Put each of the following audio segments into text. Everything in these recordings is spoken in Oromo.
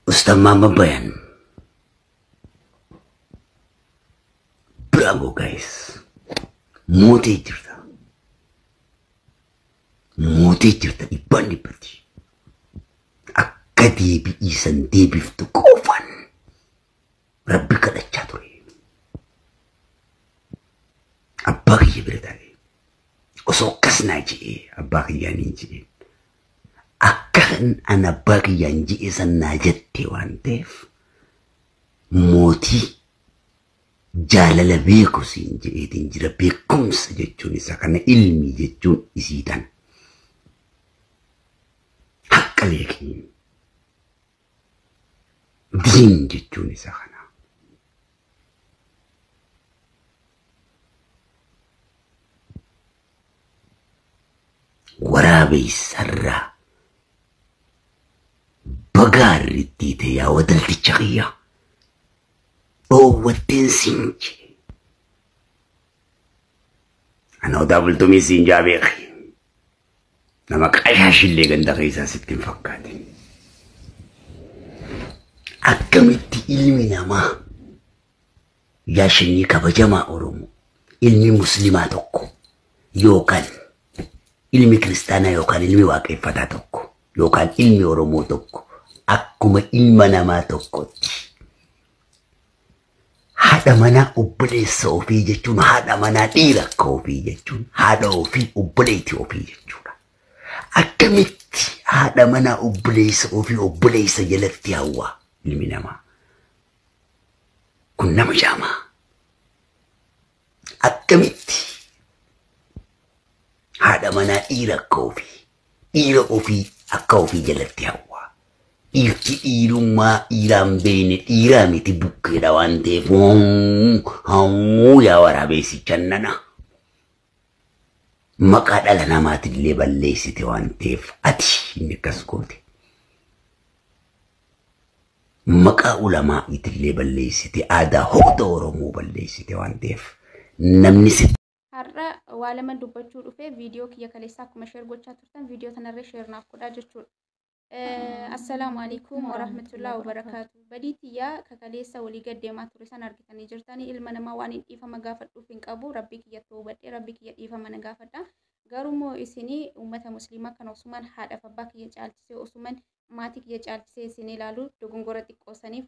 Ustaz Muhammad Bayan. Bravo guys. Mootee jirta. Mootee jirta dhibbaan dhibbatti. Akka deebi'iisan deebiftu qofaan rabbi kadhachaa ture. Abbaa kiyya bira taa'ee osoo akkas naa je'ee abbaa kiyyaa niin je'ee akka kan an abbaa kiyyaan je'ee san naa jette waan ta'eef mootii jaalala beeku siin je'eetiin jira beekumsa jechuun isa kana ilmi jechuun isii tana. Haqqa beekiin. diin jechuun isa kana. Waraabeessarraa bagaa irratti ta'e yaa wadalticha kiyyaa dhoowwatteen siin jee. Ana odaa bultumii siin jaa beekee. Nama qashaashillee ganda keessaa sitti hin fakkaatin. Akkamitti ilmi namaa yaa shanyii kabajamaa Oromoo ilmi muslimaa tokko yookaan ilmi kiristaanaa yookaan ilmi waaqeffataa tokko yookaan ilmi Oromoo tokko akkuma ilma namaa tokkotti Haadha manaa obboleessa ofii jechuun haadha manaa dhiira akka ofii jechuun haadha ofii obboleetti ofii jechuudha. Akkamitti haadha manaa obboleessa ofii obboleessa jalatti hawwaa ilmi namaa? Kun nama jaamaa. akkamitti haadha manaa dhiira akka ofii dhiira ofii akka ofii jalatti hawwaa dhiirti dhiirummaa dhiiraan beeyne dhiiraa miti bukkeedha waan ta'eef hawwuu yaa waraabeessichan nana maqaa dhala namaatillee balleessite waan ta'eef ati inni akkas goote maqaa ulamaa'iitillee balleessite aadaa hunda oromoo balleessite waan ta'eef namni si Har'a waa lama dubbachuu dhufee viidiyoo kiyya kaleessaa akkuma sheer gochaa turtan viidiyoo tanarree sheer naaf godhaa jechuudha. Eh, Assalaamu alaikum warahmatullahi wabarakaatu. Badii tiyyaa ka kaleessa walii gad deemaa ture san argitanii jirtanii ilma namaa waan hin dhiifama gaafadhuuf hin qabu rabbii kiyya ta'uu badhee rabbii kiyya dhiifama na gaafadha. Garuu immoo isinii uummata musliimaa kan osumaan haadhaaf abbaa kiyya caalchisee osumaan maatii kiyya caalchisee isin ilaalu dogongora xiqqoo saniif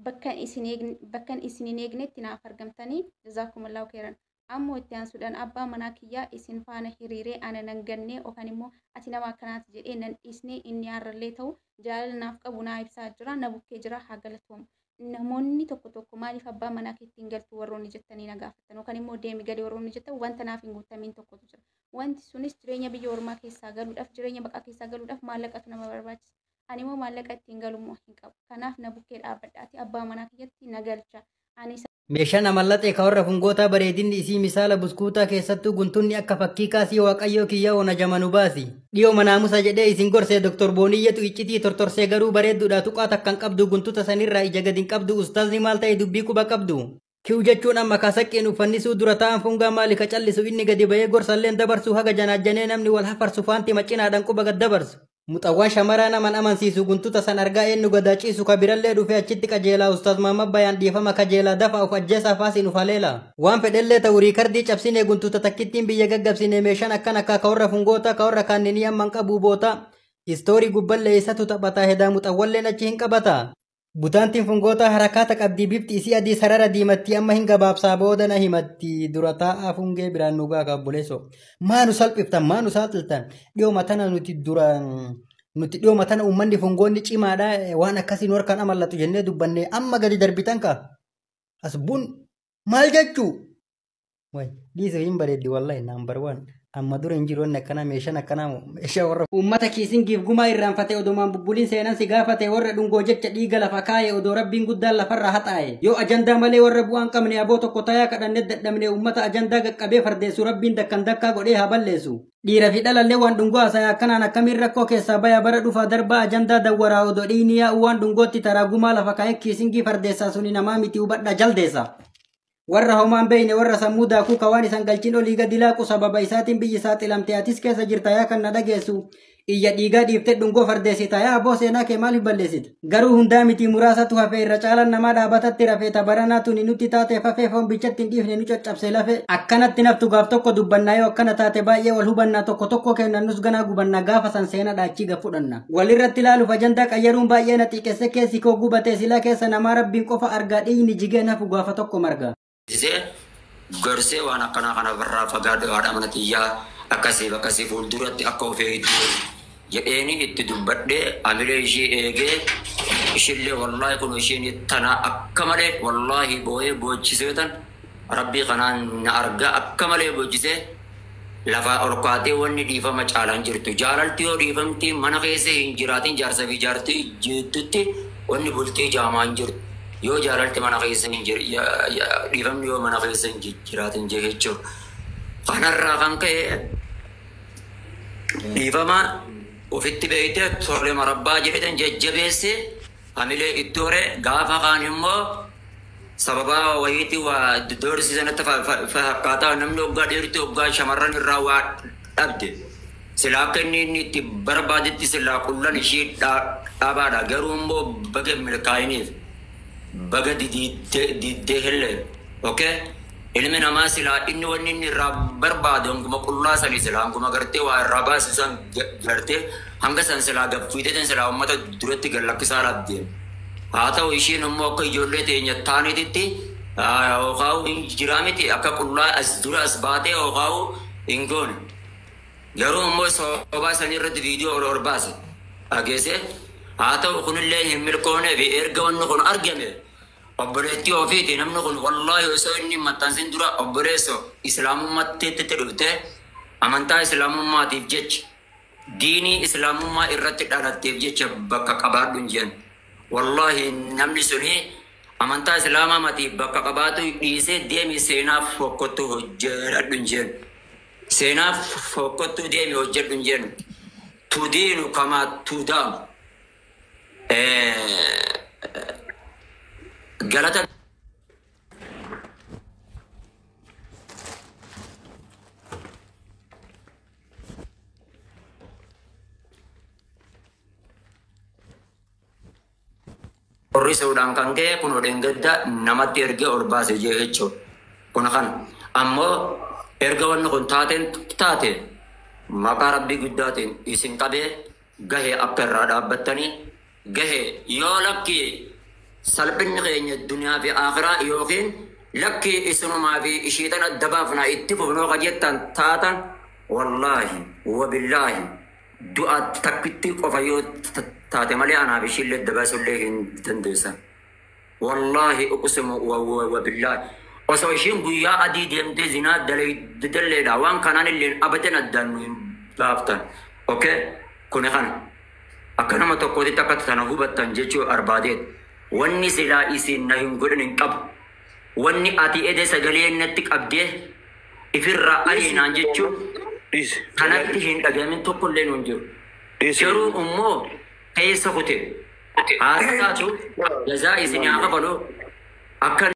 bakkan isin eegne- bakkan isin hin eegnetti naaf argamtanii jazaakumullahu khairan ammoo itti aansuudhaan abbaa manaa kiyyaa isin faana hiriiree ana nan gannee okan immoo ati nama akkanaati jedhee nan dhiisnee inni har'allee ta'u jaalala naaf qabu naa ibsaa jira na bukkee jira haa galatoomu namoonni tokko tokko maaliif abbaa manaa keetti hin galtu warroonni jettanii na gaafattan yookaan immoo deemi gali warroonni jettan wanta naaf hin guutamiin tokkotu jira Wanti sunis jireenya biyya ormaa keessaa galuudhaaf, jireenya baqaa keessaa galuudhaaf maallaqatu nama barbaachisa. Ani immoo maallaqa ittiin galu immoo hin qabu. Kanaaf na bukkee dhaabbadhaatii abbaa manaa kiyyatti na galchaa. Ani isa Meeshaan amallaxee ka warra fungootaa bareedinni isii misaala buskuutaa keessattuu guntunni akka fakkii kaasii waaqayyoo kiyya ona jama nu baasi. Dhiyooma naamusa jedhee isin gorsee Doktor Booniyyatu iccitii tortorsee garuu bareedduudha tuqaa takka hin qabdu guntuta sanirraa ija gad hin qabdu ustaazni maal ta'e dubbii quba qabdu. Kiw jechuun amma kaa saqqeen uffannisuu dura taa'an fungaa maali ka callisu inni gadi bahee gorsalleen dabarsu haga janaajjanee namni wal hafarsu faanti macinaadhaan quba gad dabarsu. Muxawwaan shamaraa naman amansiisu guntuta san argaa eennu gadaa ciisu ka birallee dhufee achitti qajeelaa ustaaz Mahammad Bayaan dhiifama kajeelaa dafaa of ajjeesaa faasiin uf haleelaa. Waan fedhellee ta'u riikardii cabsinee guntuta takkittiin biyya gaggabsinee meeshaan akkan akkaa ka warra fungootaa ka warra kaanninii amman qabuu bootaa. Istoorii gubballee isatu taphataa hedaa muxawwalleen achi hin qabataa. Butaantiin fungootaa harakaata qabdii bifti isii adii sarara diimattii amma hin gabaabsaa booda na himatti dura taa'aa fungee biraan nu gaaga obboleesso. Maa nu salphiftan maa nu saaxiltan dhiyooma tana nuti dura nuti dhiyooma tana uummanni fungoonni cimaadha waan akkasii nu harkaan amallatu jennee dubbanne amma gadi darbitan ka. As bun maal jechuu? Waay dhiise hin bareeddi wallahi number one. Amma dura hin jiru wanni akkanaa meeshaan akkanaa moo meeshaa warra Uummata kiisingiif gumaa irraanfatee odomaan bubbuliin seenan si gaafate warra dhungoo jecha dhiiga lafa kaaye odoo rabbiin guddaan lafarraa haxaaye yoo ajandaa malee warra bu'aan qabne aboo tokko tayaa kadhanne dadhabne uummata ajandaa gaqqabee fardeessu rabbiin dakkan dakkaa godhee haa balleessu. Dhiira fi dhalallee waan dhungoo haasaya akkanaan akkamiin rakkoo keessaa baya bara dhufaa darbaa ajandaa dawwaraa odoo dhiigni yaa'u waan dhungootti taraa gumaa lafa kaa'ee kiisingii fardeessaa suni namaa miti hubadhaa jaldeessa. warra homaan beeyne warra sammuu daakuu kawaan isan galchin olii gadi laaqu sababa isaatiin biyyi saaxilamte atis keessa jirta yaa kan na dhageessu iyya dhiigaa dhiifte dhungoo fardeessita yaa abboo seenaa kee maaliif balleessita garuu hundaa miti muraasatu hafe irra caalan namaa dhaabatatti rafee tabaranaa tuni nutti taatee fafee foon bichatti hin dhiifne nu caccabse lafe akkanatti naftu gaaf tokko dubbannaa yoo akkana taate baay'ee wal hubannaa tokko tokko kennannus ganaa gubannaa gaafa san seenaa dhaachii gafudhanna Walirratti ilaaluuf ajandaa qayyaruun baay'ee na xiiqesse keessi koo gubatee silaa keessa namaa rabbiin qofa argaa dhiigni jigeen hafu gaafa tokko marga. Isee gorsee waan akkanaa kana irraa fagaadhu haadha mana tiyyaa akkasiif akkasii fuulduratti akka of eegdu jedheeni itti dubbadhee amilee ishii eegee ishillee wallaahi kun isheen tanaa akka malee wallaahi booyee boochiseetan Rabbii kanaan na arga akka malee bochisee lafaa ol kaatee wanni dhiifama caala hin jirtu jaalalti yoo dhiifamti mana keessa hin jiraatin jaarsa fi jaartii jiiddutti wanni bultii jaamaa hin jirtu yoo jaalalti mana keessa hin jir ya ya dhiifamni yoo mana keessa hin ji- jiraatin jeechuu kanarraa kan ka'e dhiifama ofitti beeyte tole marabbaa jedhetan jajjabeessee Anilee ittoo ree gaafa kaan immoo sababaa wayiitii waa doorsiisa natti fakkaataa namni oggaa dhiirti oggaa shamarran irraa waa dhabde silaa akka inni inni itti barbaadetti silaa qullan ishii dhaabaadha garuu immoo baga milkaa'iniif baga diddee illee okay Ilmi namaa silaa inni wanni inni irraa barbaadu hanguma qullaa sani silaa hanguma gartee waa irraa baasu san gartee hanga san silaa gad fiideetiin silaa ummata duratti gad lakkisaa dhabdeen. Haa ta'u ishiin immoo akka ijoollee teenya taanititti hookaa'u hin jiraa miti akka qullaa as dura as baatee hookaa'u hin goone. Garuu immoo soobaa sanii irratti viidiyoo ol ol baase dhageessee haa ta'u kunillee hin milkoonee fi erga wanni kun argame Obboleettii ofiiti namni kun wallahi osoo inni hin maxxansin dura obboleesso islaamummaatti itti dhufte amantaa islaamummaatiif jecha diinii islaamummaa irratti dhalatteef jecha bakka qabaadhu hin jeen wallahi namni suni amantaa islaamaa matiif bakka qabaatu dhiisee deemi seenaaf fokkottu hojjedhu hin jeen seenaaf fokkottuu deemi hojjedhu hin jeen tudiinu kamaa tudaamu Galata qorrisuudhaan kan ka'e kun odeen gadda namatti ergee ol baase jee jechuudha. Kun kan ammoo erga wanni kun taateen taate maqaa rabbii guddaatiin isin qabee Gahe akka irraa dhaabbattanii gahe yoo lakki salphinni keenya duniyaa fi aakhiraa yookiin lakki isinumaa fi ishii tan adda baafna itti fufnoo ka jettan taatan wallaahi wabillaahi du'a takkittii qofa yoo taate malee anaaf ishiillee adda baasullee hin dandeessan. Wallahi uqsimu wabillahi osoo ishiin guyyaa adii deemtee zinaa dalaydalleedha waan kanaan illeen abadan addaan nu hin baaftan okay kuni kana akka nama tokkootitti akka tana hubattan jechuu arbaadeet wanni silaa isiin na hin godhin hin qabu wanni ati ede sagalee natti qabdee ifirraa ariinaan jechuun Dhiisi. kanatti hin dhagamin tokkollee nu hin jiru Dhiisi. garuu immoo keessa kute haa xiqqaatu jazaa isinii haa kafalu akka